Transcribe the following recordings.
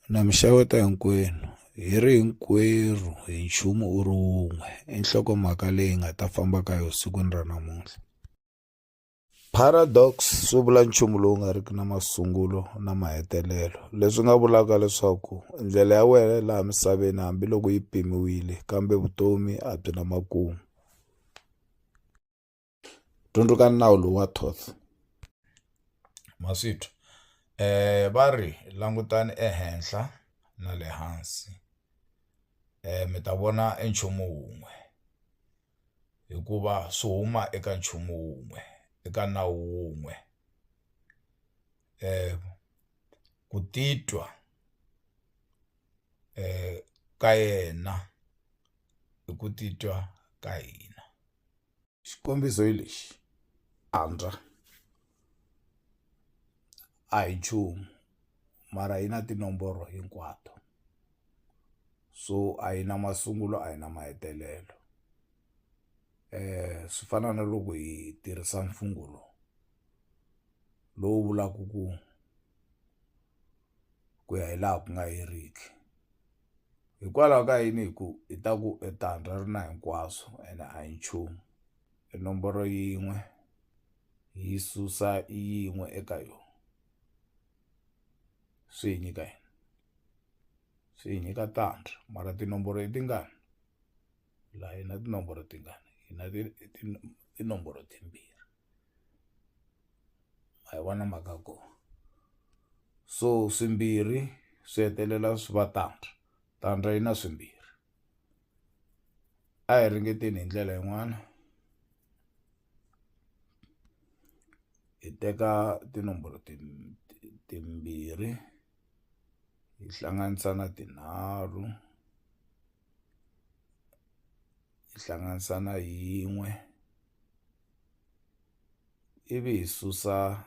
Na mi xeweta hinkwenu hi ri hinkwerhu hi nchumu u ri wun'we i nhlokomhaka leyi nga ta famba ka yo sikwini ra namuntlha paradox swi vula nchumu lowu nga riki na masungulo na mahetelelo leswi nga vulaka leswaku ndlela ya wena laha misaveni hambiloko yi pimiwile kambe vutomi a byi na makumu Dyondzukani nawu lowu wa Thoth. Maswithu. Eh va ri langutani ehenhla na le hansi eh mi ta vona e nchumu wun'we hikuva swi huma eka nchumu wun'we eka nawu wun'we eh ku titwa ka yena i ku titwa ka hina. xikombiso hi lexi antswa a hi nchumu mara yi na tinomboro hinkwato so a yi na masungulo a yi na mahetelelo swi fana na loko hi tirhisa mfungho lowu lowu vulaku ku ku ya hi laha ku nga heriki. hikwalaho ka yini hi ku hi ta ku e tandza ri na hinkwaswo ene a hi nchumu i nomboro yin'we yi susa yin'we eka yona swi hi nyika yini swi hi nyika tandza mara tinomboro i tingani laha hi na tinomboro tingani hi na tinomboro timbirhi. ma yi vona mhaka ya kona so swimbirhi swi hetelela swi va tandza tandza yi na swimbirhi a hi ringeteni hi ndlela yin'wana hi teka tinomboro timbirhi hi hlanganisa na tinharhu hi hlanganisa na yin'we. ivi hi susa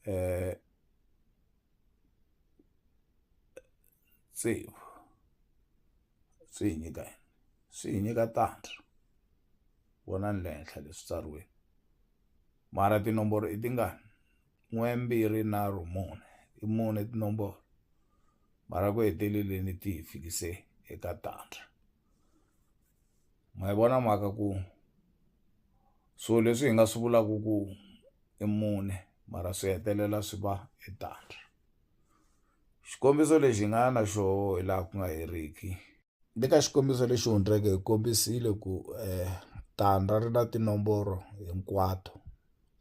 eh, tsevu swi hi nyika yini swi hi nyika tandza vonani le henhla leswi tsariweni mara tinomboro i tingani n'we mbirhi nharhu mune i mune tinomboro mara ku heteleleni ti hi fikise eka tandza ma yi vona mhaka ku so leswi hi nga swi vulaku ku i mune mara swi hetelela swi va i tandza xikombiso lexi hi nga na xoho hi laha ku nga heriki ni ka xikombiso lexi hundzeke hi kombisile ku tandza ri na tinomboro hinkwato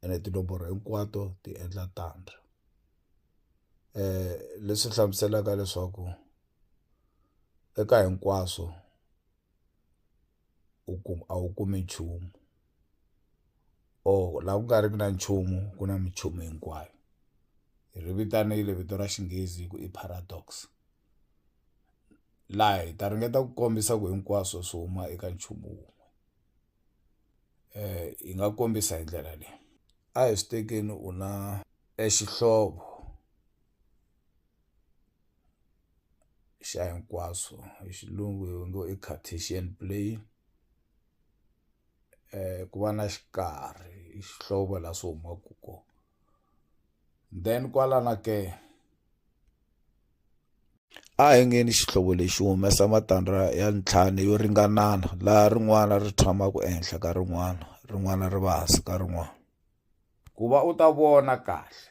ene tinomboro hinkwato ti endla tandza leswi hlamuselaka leswaku. eka hinkwaswo u kuma a wu kumi nchumu or laha ku nga riki na nchumu ku na minchumu hinkwayo hi ri vitanile vito ra xinghezi hi ku i paradox laha hi ta ringeta ku kombisa ku hinkwaswo swi huma eka nchumu wun'we hi nga kombisa hi ndlela leyi a hi swi tekeni u na e xihlovo. xa hinkwaswo hi xilungu hi ngo i Cartesian plane ku va na xikarhi i xihlovo la swi humaku ko then kwalana ke a hi ngeni xihlovo lexi humesa matandza ya ntlhanu yo ringanana laha rin'wana ri tshamaku ehenhla ka rin'wana rin'wana ri va hansi ka rin'wana. Ku va u ta vona kahle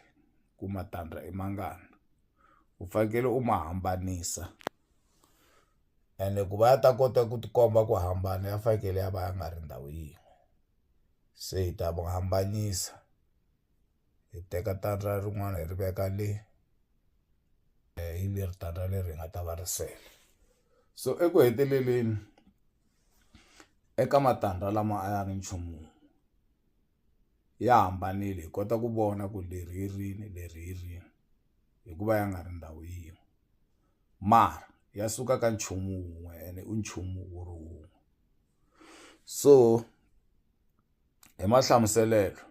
ku matandza i mangani u fanekele u ma hambanisa ene ku va ya ta kota ku tikomba ku hambana ya fanekele ya va ya nga ri ndhawu yin'we se hi ta ma hambanyisa hi teka tandza rin'wana hi ri veka le hi leri tandza leri hi nga ta va ri sele so eku heteleleni eka matandza lama a ya ri nchumu wun'we. ya hambanile hi kota ku vona ku leri hi rini leri hi rini hikuva ya nga ri ndhawu yin'we mara ya suka ka nchumu wun'we ene u nchumu wu ri wun'we so hi mahlamuselelo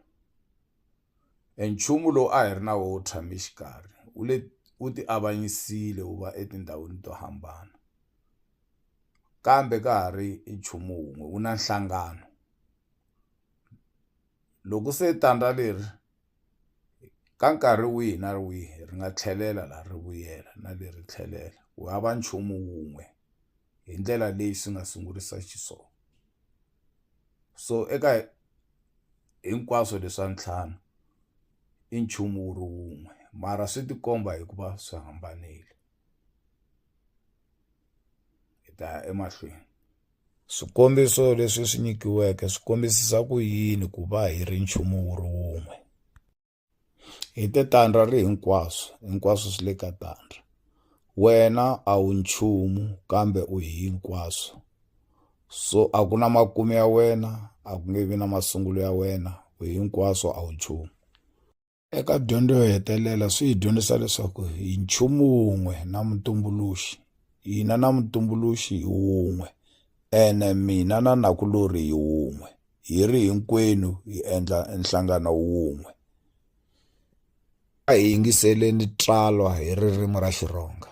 e nchumu lowu a hi ri na wo tshame xikarhi wu le wu ti avanyisile wu va etindhawini to hambana kambe ka ha ri i nchumu wun'we wu na nhlangano. Loko se tandza leri ka nkarhi wihi na wihi ri nga tlhelela la ri vuyela na le ri tlhelela ku hava nchumu wun'we hi ndlela leyi swi nga sungurisa xiswona so eka hinkwaswo leswa ntlhanu i nchumu wu ri wun'we mara swi tikomba hikuva swi hambanile. hi ta ya emahlweni swikombiso leswi swi nyikiweke swi kombisisa ku yini ku va hi ri nchumu wu ri wun'we hi te tandra ri hinkwaswo hinkwaswo swi le ka tandra wena a wu nchumu kambe u hi hinkwaswo so a ku na makumu ya wena a ku nge vi na masungulo ya wena u hinkwaswo a wu nchumu Eka dyondzo yo hetelela swi hi dyondzisa leswaku hi nchumu wun'we na mutumbuluxi hina na mutumbuluxi hi wun'we ene mina na nakulori hi wun'we hi ri hinkwenu hi endla nhlangano wun'we a hi yingiseleni tsalwa hi ririmi ra xirhonga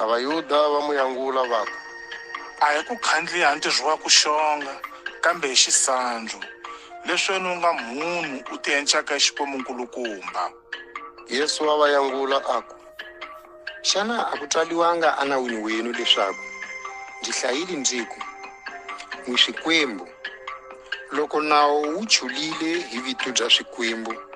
A Vayuda va n'wi angula va ku. A hi ku khandliya ha ntirho wa ku xonga, kambe hi xisandzu, lesweni u nga mhunhu u tienchaka hi Xikwembu-nkulukumba. Yesu wa va angula a ku. Xana a ku tsaliwanga eNawini wenu leswaku, Ndzi hlayile ndzi ku, N'wi swikwembu, loko Nawu wu chulile hi vito bya swikwembu,